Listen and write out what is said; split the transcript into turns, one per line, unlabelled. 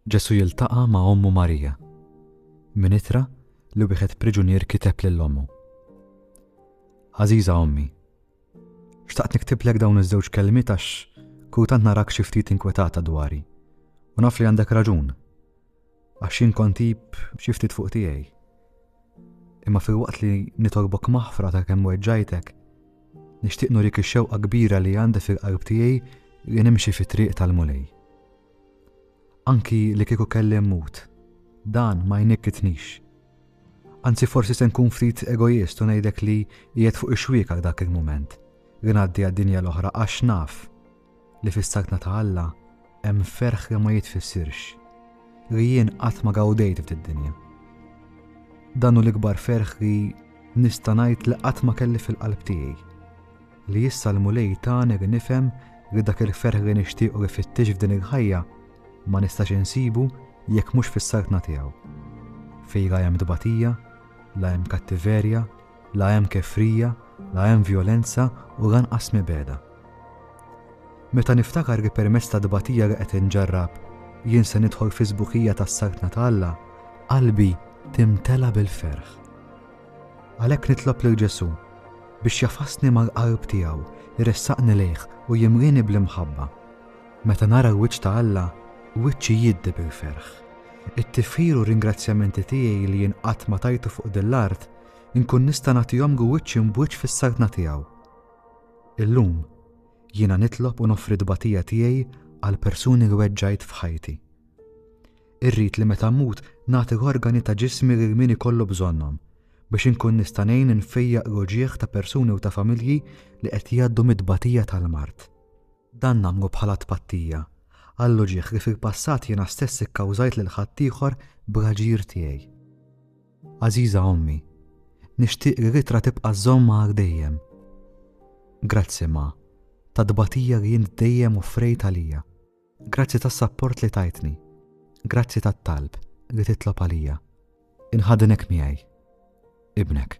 Ġesù jiltaqa' ma' ommu Marija, minn ittra li wieħed priġunier kiteb lil ommu. Għażiża ommi, xtaqt niktiblek dawn iż-żewġ kelmiet għax kultant narak xi ftit inkwetata dwari, u naf li għandek raġun, għax jien kont tip xi ftit fuq tiegħi. Imma filwaqt li nitolbok maħfra ta' kemm weġġajtek, nixtieq nurik ix-xewqa kbira li għandi fil-qalb tiegħi li nimxi fit-triq tal-Mulej. Anki li kieku kelli mmut, dan ma jnikkitnix. Anzi forsi se nkun ftit egoist u ngħidlek li qiegħed fuq ixwiekak dak il-mument li ngħaddi għad-dinja l-oħra għax naf li fis-saltna ta' Alla hemm ferħ li ma jitfissirx, li jien qatt ma gawdejt f'did-dinja. Dan hu l-ikbar ferħ li nista' ngħid li qatt ma kelli fil-qalb tiegħi. Li issa l-Mulej tani li nifhem li dak il-ferħ li nixtieq u li fittix f'din il-ħajja ma nistax insibu jekk mhux fis-Saltna tiegħu. Fih la hemm tbatija, la hemm kattiverja, la hemm kefrija, la hemm vjolenza u lanqas mibegħda. Meta niftakar li permezz ta' tbatija li qed inġarrab jien se nidħol fis-sbuħija tas-Saltna ta' Alla, qalbi timtela bil-ferħ. Għalhekk nitlob lil Ġesù biex jafasni mal-qalb tiegħu, jressaqni lejh u jimlieni bl-imħabba. Meta nara l-wiċċ ta' Alla, wiċċi jiddi bil-ferħ. It-tifħir u r-ringrazzjamenti tiegħi li jien qatt ma tajtu fuq din l-art, inkun nista' nagħtihom wiċċ imb wiċċ fis-Saltna tiegħu. Illum, jiena nitlob u noffri t-tbatija tiegħi għall-persuni li weġġajt f'ħajti. Irrid li meta mmut nagħti l-organi ta' ġismi lil min ikollu bżonnhom, biex inkun nista' ngħin infejjaq l-uġigħ ta' persuni u ta' familji li qed jgħaddu mit-tbatija tal-mard. Dan nagħmlu bħala tpattija għall-uġigħ li fil-passat jiena stess ikkawżajt lil ħaddieħor bl-aġir tiegħi. Għażiża Ommi, nixtieq li l-ittra tibqa' żżommha għal dejjem. Grazzi, Ma, tat-tbatija li int dejjem offrejt għalija. Grazzi tas-sapport li tajtni. Grazzi tat-talb li titlob għalija. Inħadnek miegħi. Ibnek.